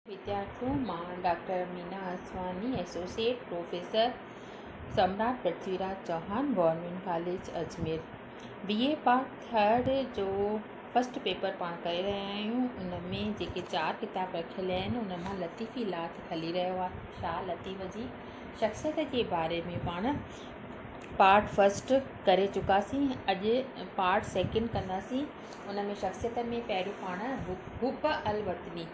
وديارٿين مان doctor Meena Aswani, associate professor, Samrat Prithviraj Chauhan, government college Ajmer, B A part third جو first paper پاڻ ڪري رهيا آهيون ان ۾ جيڪي چار ڪتاب رکيل آهن ان مان لطيفي لاٿ کلي رهيو آهي شاهه لطيف جي شخصيت جي باري ۾ پاڻ پارٽ فرسٽ ڪري چڪاسين اڄ پارٽ سيڪنڊ ڪنداسين ان ۾ شخصيتن ۾ پهريون پاڻ حب الوطني.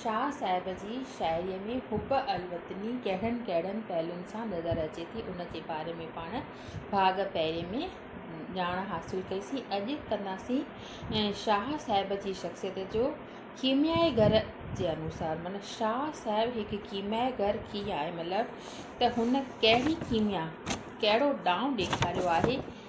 شاهه صاحب جي شاعريء ۾ حب الوطني ڪهڙن ڪهڙن پهلون سان نظر اچي ٿي، ان جي باري ۾ پاڻ ڀاڳ پهرين ۾ ڄاڻ حاصل ڪئي سين. اڄ ڪنداسين شاهه صاحب جي شخصيت جو ڪيميائي گهر جي انوسار معنيٰ شاهه صاحب هڪ ڪيميائي گهر ڪيئن آهي مطلب ته هن ڪهڙي ڪيميا ڪهڙو ڏانء ڏيکاريو آهي.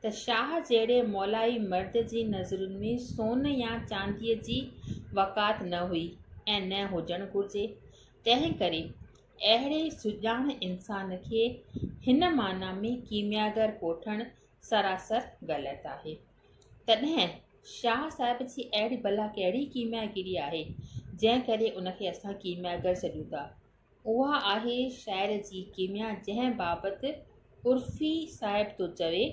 ته شاهه جهڙي مولائي مرد جي نظرن ۾ سون يا چانديء جي وقعت نه هئي ۽ نه هجڻ گهرجي. تنهن ڪري اهڙي سڄاڻ انسان کي هن معنيٰ ۾ ڪيمياگر ڪوٺڻ سراسر غلط آهي. تڏهن شاهه صاحب جي اهڙي ڀلا ڪهڙي ڪيمياگري آهي، جنهن ڪري ان کي اسان ڪيمياگر سڏيون ٿا؟ اها آهي شاعر جي ڪيميا جنهن بابت عرفي صاحب ٿو چوي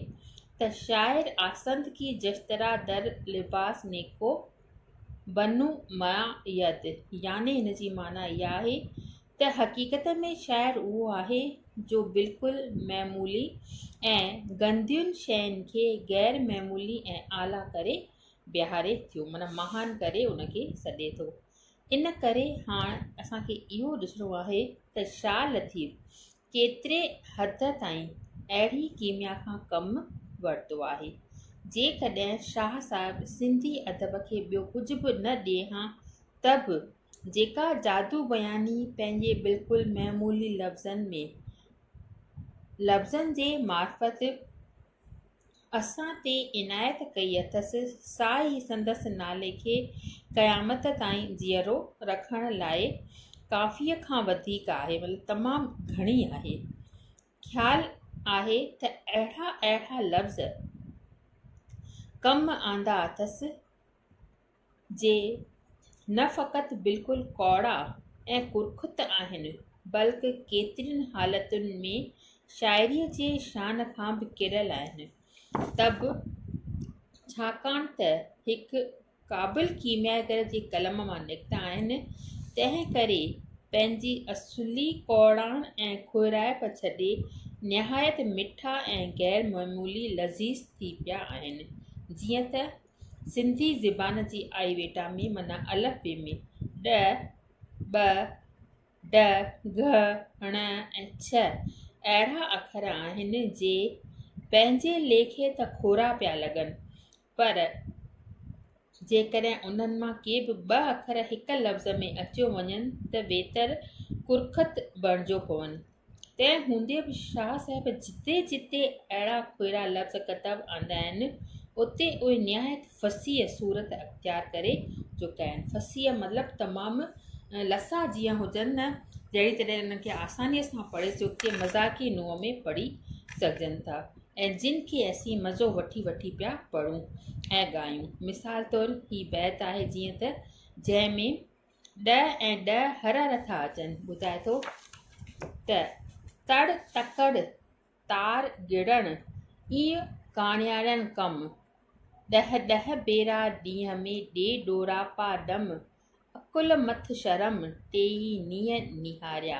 ته شاعر آسند ڪي جشترا در لباس نيڪو بنو مع ید يعني هن جي معنيٰ اها آهي ته حقيقت ۾ شاعر اهو آهي جو بلڪل معمولي ۽ گندين شين کي غير معمولي ۽ اعليٰ ڪري بيهاري ٿو معنيٰ مهان ڪري ان کي سڏي ٿو ان ڪري هاڻ اسان کي اهو ڏسڻو آهي ته شا لطيف ڪيتري حد تائين اهڙي ڪيميا کان ڪم ورتو آهي جيڪڏهن شاهه صاحب سنڌي ادب کي ٻيو ڪجهه به نه ڏئي ها ته به جيڪا جادو بياني پنهنجي بلڪل معمولي لفظن ۾ لفظن جي معرفت اسان تي عنايت ڪئي اٿس، سا ئي سندس نالي کي قيامت تائين جيئرو رکڻ لاء ڪافيء کان وڌيڪ آهي، مطلب تمام گهڻي آهي. خيال آهي ته اهڙا اهڙا لفظ ڪم آندا اٿس، جي نه فقط بلڪل ڪوڙا ۽ ڪرخت آهن بلڪ ڪيترين حالتن ۾ شاعريء جي شان کان به ڪريل آهن ته به ڇاڪاڻ ته هڪ قابل ڪيمياگر جي قلم مان نڪتا آهن تنهن ڪري پنهنجي اصلي ڪوڙاڻ ۽ کهرائپ ڇڏي نهايت مٺا ۽ غير معمولي لذيذ ٿي پيا آهن جيئن ته سنڌي زبان جي آئي ويٽا ۾ معنيٰ الف بي ۾ ڏ، ٻ، ڊ، گھ، ڻ ۽ چھ اهڙا اکر آهن جي پنهنجي ليکي ته ڪورا پيا لڳن پر جيڪڏهن انهن مان ڪي به ٻه اکر هڪ لفظ ۾ اچيو وڃن ته ويتر ڪرخت بڻجيو پون. تنهن هوندي به شاهه صاحب جتي جتي اهڙا ڦيرا لفظ ڪتب آندا آهن، اتي اهي نهايت فصيح صورت اختيار ڪري چڪا آهن. فصيح مطلب تمام لسا جيئن هجن نه جهڙي طرح انهن کي آسانيء سان پڙهي چوکي مذاقي نوع ۾ پڙهي سگهجن ٿا ۽ جن کي اسين مزو وٺي وٺي پيا پڙهون ۽ ڳايون. مثال طور هي بيت آهي جيئن ته جنهن ۾ ڏهه ۽ ڏهه هر هر ٿا اچن ٻڌائي ٿو ته تڙ تڪڙ تار گڙڻ اي ڪاڻيارڻ ڪم ڏهه ڏهه ڀيرا ڏينهن ۾ ڏي ڏوراپا ڏم عقل مٿ شرم ٽيئي نينهن نهاريا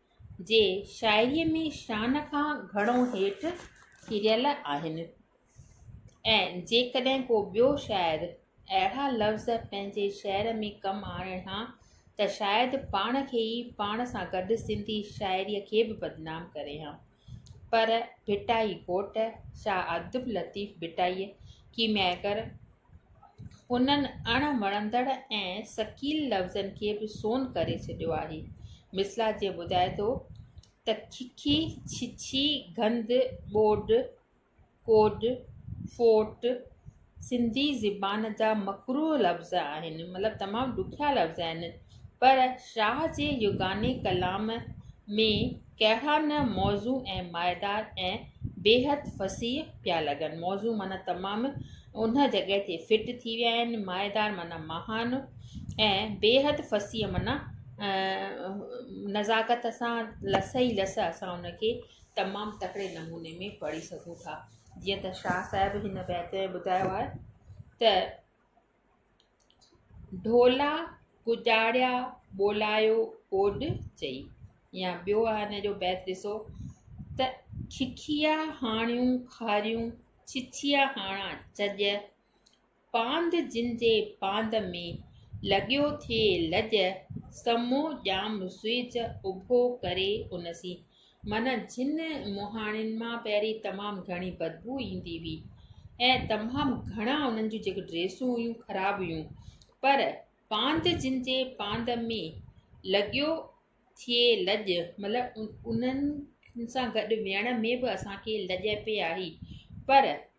جي شاعريء ۾ شان کان گهڻو هيٺ ڪريل آهن ۽ جيڪڏهن ڪو ٻيو شاعر اهڙا لفظ پنهنجي شعر ۾ ڪم آڻي ها ته شايد پاڻ کي ئي پاڻ سان گڏ سنڌي شاعريء کي به بدنام ڪري ها پر ڀٽائي ڳوٺ شاهه عبداللطيف ڀٽائي ڪيمياگر انهن اڻ وڻندڙ ۽ ثقيل لفظن کي به سون ڪري ڇڏيو آهي. مثلا جيئن ٻڌائي ٿو ته ککي، ڇڇي، گند، ٻوڏ، ڪوڊ، فوٽ، سنڌي زبان جا مڪروه لفظ آهن مطلب تمام ڏکيا لفظ آهن پر شاهه جي يگاني ڪلام ۾ ڪهڙا نه موضوع ۽ مائيدار ۽ بيحد فصيح پيا لڳن موضوع معنيٰ تمام ان جڳهه تي فٽ ٿي ويا آهن مائيدار معنيٰ مهان ۽ بيحد فصيح معنيٰ نزاڪت سان لس ئي لس اسان ان کي تمام تڪڙي نموني ۾ پڙهي سگهون ٿا جيئن ته شاهه صاحب هن بيت ۾ ٻڌايو آهي ته ڍولا گجاڙيا ٻولايو اوڏ چئي يا ٻيو آهي هن جو بيت ڏسو ته ککيا هاڻيون کاريون ڇڇيا هاڻا چڄ پاند جن جي پاند ۾، لڳيو ٿئي لڄ، سمو ڄام سوئيج اڀو ڪري ان سين. معنيٰ جن مهاڻين مان پهرين تمام گهڻي بدبو ايندي هئي ۽ تمام گهڻا انهن جون جيڪي ڊريسون هيون خراب هيون پر پاند جن جي پاند ۾ لڳيو ٿئي لڄ مطلب انهن سان گڏ ويهڻ ۾ به اسان کي لڄ پئي آئي پر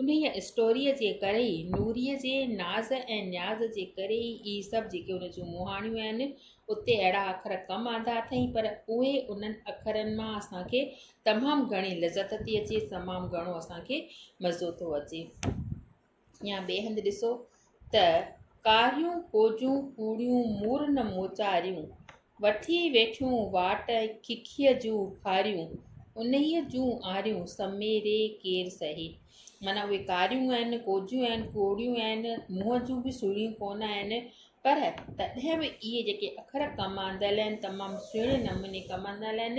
انهيء اسٽوريء جي ڪري ئي، نوريء جي ناز ۽ نياز جي ڪري ئي اهي سڀ جيڪي ان جون مهاڻيون آهن، اتي اهڙا اکر ڪم آندا اٿئي، پر اهي انهن اکرن مان اسان کي تمام گهڻي لذت ٿي اچي، تمام گهڻو اسان کي مزو ٿو اچي. يا ٻئي هنڌ ڏسو ته ڪاريون ڪوجون ڪوڙيون مورن موچاريون، وٺي ويٺيون واٽ ککيء جون ڦاريون، انهيء جون آريون سميري ڪير سهي. معنيٰ اهي ڪاريون آهن، ڪوجون آهن، ڪوڙيون آهن، منهن جون به سهڻيون ڪونه آهن، پر تڏهن به اهي جيڪي اکر ڪم آندل آهن، تمام سهڻي نموني ڪم آندل آهن،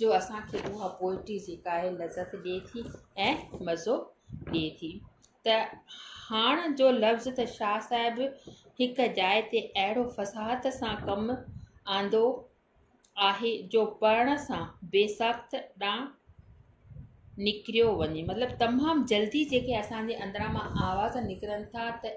جو اسان کي اها پوئٽري جيڪا آهي لذت ڏئي ٿي ۽ مزو ڏئي ٿي ته هاڻ جو لفظ ته شاهه صاحب هڪ جاء تي اهڙو فصاحت سان ڪم آندو آهي جو پڙهڻ سان بي ساخت ڏانهن نڪريو وڃي مطلب تمام جلدي جيڪي اسان جي اندران مان آواز نڪرن ٿا ته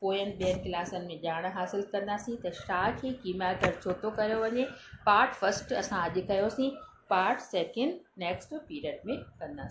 پوين ٻين ڪلاسن ۾ ڄاڻ حاصل ڪنداسين ته شا کي ڪيمياگر ڇو ٿو ڪيو وڃي پارٽ فسٽ اسان اڄ ڪيوسين پارٽ سيڪنڊ نيڪسٽ پيريڊ ۾ ڪنداسين